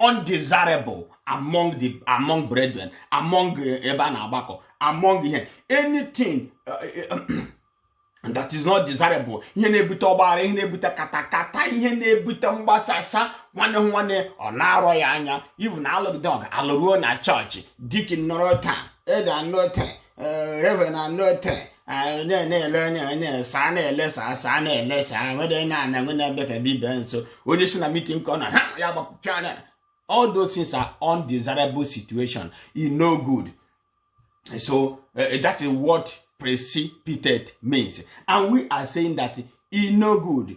undesirable among the among brethren among eh, ebe a na-agbakọ among ihe anything eh, eh, that is not desirable ihe na-ebute ọgbaghara ihe na-ebute katakata ihe na-ebute mgbasasa nwanne hụ nwanne ọ na-arọ ya anya even alụgide ọgụ alụruo na chọọchị deacon nọrọ taa elder anọ taa eh, reverend anọ taa na-ele onye na-esa na-elesa asa na-elesa nwere na ana nwe na-abịa ka bibia nso onye si na meeting ka ọ na ha ya gbapụcha na all those things are undesirable situation e no good so uh, that is what precipitate means and we are saying that e no good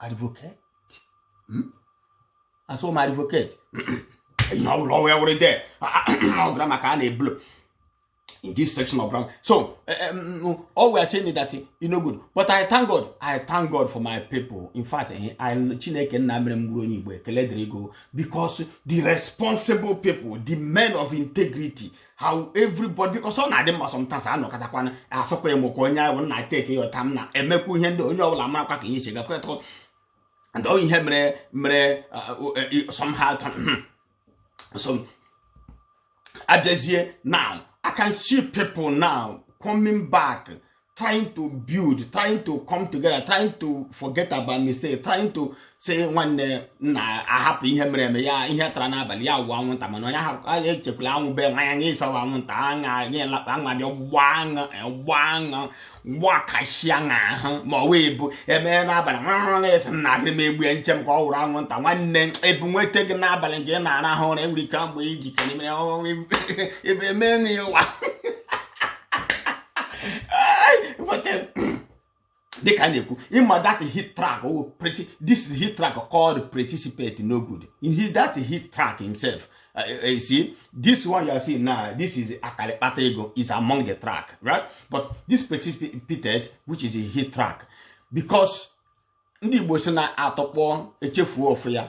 advocate hmm? asọ m advocate ihe ọ bụla ọwụ ya were de ọ gara maka a na-eblo in this section of ground. So, um, all we are saying is that you know good. But I thank God. I thank God for my people. In fact, eh, I Chineke Namrem because the responsible people, the men of integrity, how everybody because ọ na-adị mma sometimes anọkọtakwana asọkwa emokwa onye ahụ na teke ya ọta m na emekwa ihe ndị onye ọbụla marakwa ka ihe si gakwetụ ndị ọ ihe mere eme somehow so abịazie now I can see people now coming back trying to build trying to come together trying to forget about mistake trying to say nwanne nna hapụ ihe mere eme ya ihe tara n'abalị ya wụ anwụnta mana onye ahụ echekwala anwụ be nwa ya nye ịsawa anwụnta aṅa nye lakpa aṅa bịa gbaa aṅa gbaa aṅa gbakashịa ahụ ma ọ wee bụ emee n'abalị nwa ahụ na-esi nna agịrị m egbu ya nche m ka ọ wụrụ anwụnta nwanne ebu nweta gị n'abalị nke ị na-arahụ ụra enwere ike mgbe iji kere mere ebe emee ya ụwa dịka a na-ekwu ịma that hit track oh, this hit track called participate no good in he that hit track himself uh, uh, you see this one you are seeing now this is akalekpata ego is among the track right but this participated which is a hit track because ndị Igbo si na atọkpọ echefuo ofu ya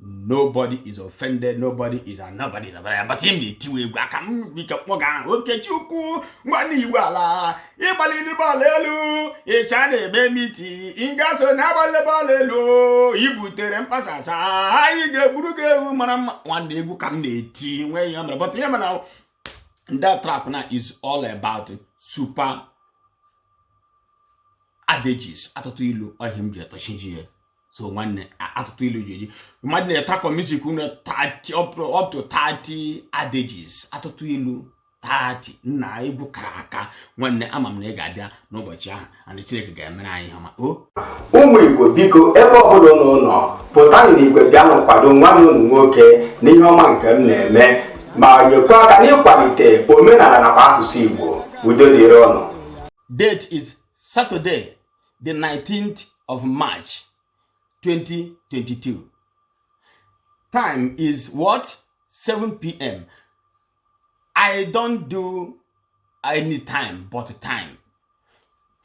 nobody is offended nobody is and nobody is abara but him na-etiwe egwu aka m bike kpọga ahụ okechukwu nwanne i gbuola ị gbalila bọọlụ elu ị sị a na-eme meeting ị ga-eso na-agbali bọọlụ elu i butere mgbasasa anyị ga-egburu gị ewu mara mma nwanne egwu ka m na-eti nwee ihe mere but ihe mana ndị track na is all about super adages atụtụ ilu ọ ihe m ji atọchiji ya so nwanne atụtụ ilu ji eji ma dị na track music unu up to 30 adages atụtụ ilu 30 nna egwu kara aka nwanne ama m na ị ga-abịa n'ụbọchị ahụ and Chineke ga-emere anyị ihe ọma ụmụ Igbo biko ebe ọbụla ụnụ nọ pụta n'igwe bịanụ kwado nwanne ụnụ nwoke na ihe ọma nke m na-eme ma nyekwa aka n'ịkwalite omenala nakwa asụsụ Igbo udo dịrị ụnụ date is Saturday the 19th of march 2022 time is what 7 pm i don't do any time but time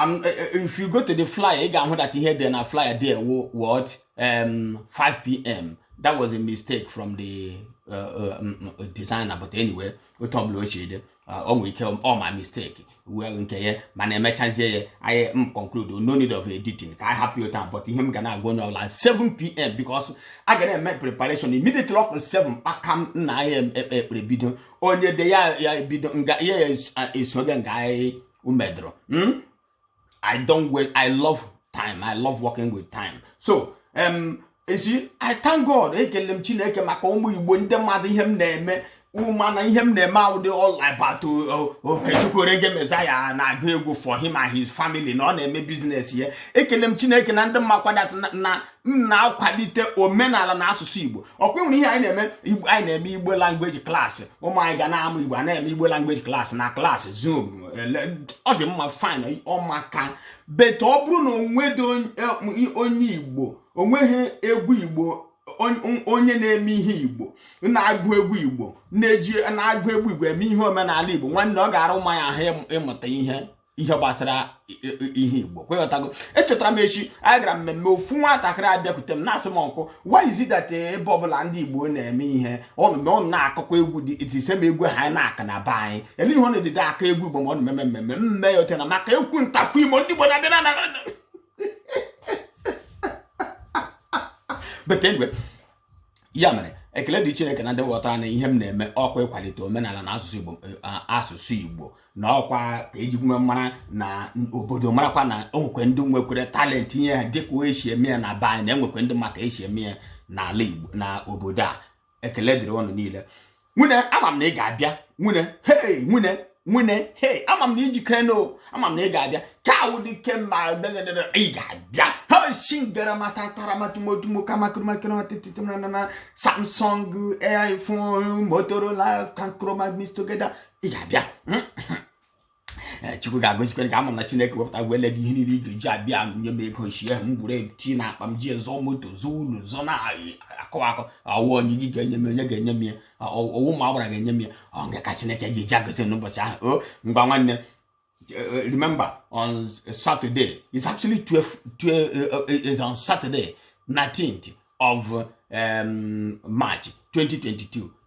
I'm, eh, eh, if you go to the flyer ị ga-ahụ that ihe dị na flyer there what um, 5 pm that was a mistake from the uh, uh, um, uh, designer but anyway otu ọbụla o si dị ọ nwere ike ọ ma mistake wee nke ya mana emechazie ya anyị conclude no need of editing ka anyị hapụ ya taa but ihe m ga na-agwa onye ọbụla 7pm because a ga na-eme preparation immediately ọ kụọ 7 kpakam nna anyị ekpee ekpere bido onye de ya ya bido nga ya esoge nga anyị umedoro I don't wait. I love time. I love working with time. So, um, esi I thank God ekele m Chineke maka ụmụ Igbo ndị mmadụ ihe m na-eme ụma na ihe m na-eme awụdị all about Okechukwu Orege Mezaya na-agụ egwu for him and his family na ọ na-eme business ya ekele m Chineke na ndị makwa that na m na-akwalite omenala na asụsụ igbo ọkwa e nwere ihe anyị na-eme igbo anyị na-eme igbo language class ụmụ anyị ga na-amụ igbo a na-eme igbo language class na class zoom ọ dị mma fine ọ maka but ọ bụrụ na o nwedị e, onye igbo o nweghị egwu igbo onye na-eme ihe igbo na-agụ egwu igbo na-eji na-agụ egwu igbo eme ihe omenala igbo nwanne ọ ga-ara ụmụ ya ahụ ịmụta ihe ihe gbasara ihe igbo ọkwa ị ghọtago echetara m echi anyị gara mmemme ofu nwatakịrị abịakwute m na-asị m uncle why is it that eh, ebe ọbụla ndị igbo na-eme ihe unu mgbe unu na-akụkwa egwu the same egwu a anyị na-akụ na be anyị ele ihe unu ejidị akụ egwu igbo ma unu na-eme mmemme m mee ya ọ ghọta na maka ekwu ntakwu imo ndị igbo na-abịa na bete mgbe ya mere ekele dịrị chineke na ndị ghọta na ihe m na-eme ọkwa ịkwalite omenala na asụsụ igbo eh, asụsụ igbo na ọkwa ka e ji wee mara na obodo marakwa na enwekwe ndị nwekwere talent ihe a dịka esi eme ya na be anyị na enwekwe ndị ma ka esi eme ya n'ala igbo na obodo a ekele dịrị unu niile nwunne ama m na ị ga-abịa nwunne hei nwunne nwunne hei ama m na i jikere na ama m na ị ga-abịa ka awụ dị ike ma ị ga-abịa ha si gara mata tara matumotumo kamakrmakirmatititinana samsung iphone motorola kankroma mix together ị ga-abịa hmm? Eh, chukwu ga-agọzikwere ka ama na chineke wepụta gwele gị ihe niile ị ga-eji abịa nye m ego ụbọchị ahụ m gwuru eti na akpa m ji azụ moto zụọ ụlọ zụọ na akọ akọ ọ wụ onye gị ga-enye m onye ga-enye m ya ọ wụ ma agbara ga-enye m ya ọ nga ka chineke ga-eji agọzi n'ụbọchị ahụ o oh, ngwa nwanne eh, remember on Saturday it's actually 12, 12 uh, eh, is on Saturday 19th of um, March 2022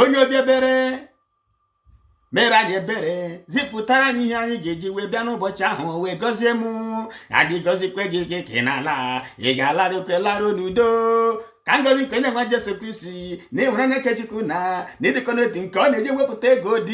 onye obi ebere mere anyị ebere zipụtara anyị ihe anyị ga-eji wee bịa n'ụbọchị ahụ wee gọzie m adị gọzikwe gị gị ka ị na-ala ị ga-alarụkwe larụ n'udo ka ngozi nke Onyenwe anyị Jesu Kristi na ịhụnanya nke Chukwu na na ịdịkọ n'otu nke ọ na-eji wepụta ego dị